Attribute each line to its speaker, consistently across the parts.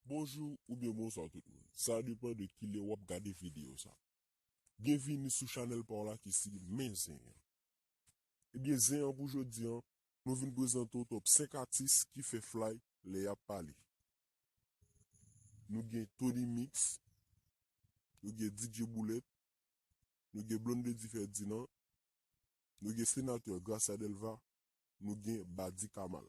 Speaker 1: Bonjou oubyen bonswa tout moun. Sa depan de kilè wap gade video sa. Byenvini sou chanèl paw la ki se Men Zen an. Ebyen zen an pou jodi an, nou vin prezante w top 5 atis ki fè flay lè yap pale. Nou gen Tony Mix, nou gen DJ Boulèt, nou gen Blondedy Ferdinand, nou gen Senatè Gracia Delva, nou gen Badi Kamal.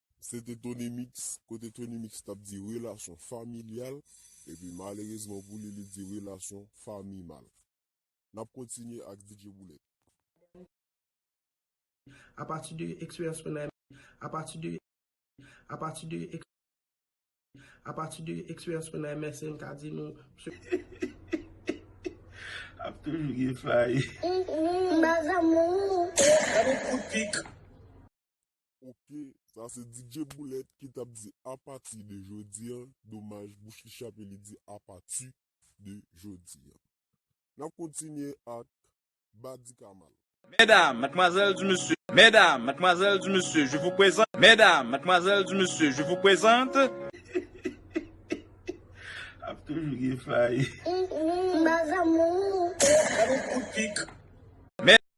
Speaker 1: Se te Tonymix, kote Tonymix t ap di relasyon familyal, epi malerezman pou li, li di relasyon famimal. N ap kontinye ak DJ Boulèt.
Speaker 2: A pati de eksperyans mwen nan. A pati de. A pati de. A pati de eksperyans mwen nan MSN m ka di nou msye. Ap toujou gen fay. Mbazamour. Dam yon kout
Speaker 1: pik. Ok sa se DJ Boulet ki tap di apati de jodi an domaj bouch li chape li di apati de jodi an. Nap kontinye ak Badi Kamal. Medam,
Speaker 3: matmwazèl di mesye. Medam, matmwazèl di mesye je vou prezant. Medam, matmwazèl di mesye je vou prezant.
Speaker 2: Ap toujou gen fay. Mes amours. Gade kout pik.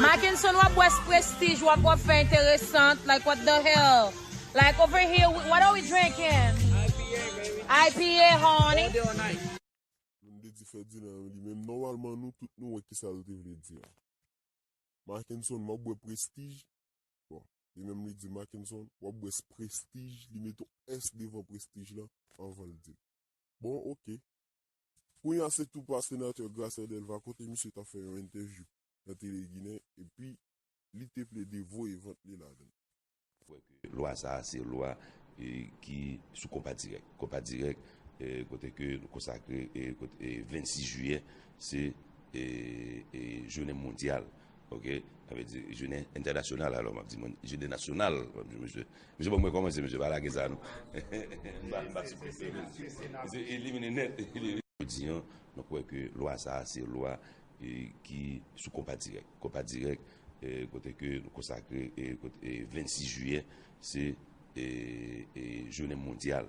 Speaker 4: Makenson wap bwè sprestij wap wap fè enteresant like what the hell like over here we what are we drinking IPA honey.
Speaker 1: Moun te di Ferdinand yon li menm nòmalman nou tout nou wè kisa l te vle di a. Makenson wap bwè prestij bon li menm li di Makenson wap bwè sprestij li met yon s devan prestij lan anvan l di l bon ok. Kounya se tou pa Senatè Gracia Delva kote misye ta fè yon entèvyou nan Tele Ginen epi li te plede voye vant li ladan l. kwè ke lwa sa a
Speaker 5: se lwa ki sou konpa dirèk, konpa dirèk kote ke nou konsakre 26 jiyè se jounen mondyal Ok sa vle di jounen entènasyonal alò map di mwen jounen nasyonal map di mesye mesye banm wè kòman se mesye pa lage sa non banm ba sipòt mesye mesye elimine nèt. Jodi an mwen kwè ke lwa sa a se lwa ki sou konpa dirèk konpa dirèk kote ke nou konsakre 26 jiyè se jounen mondyal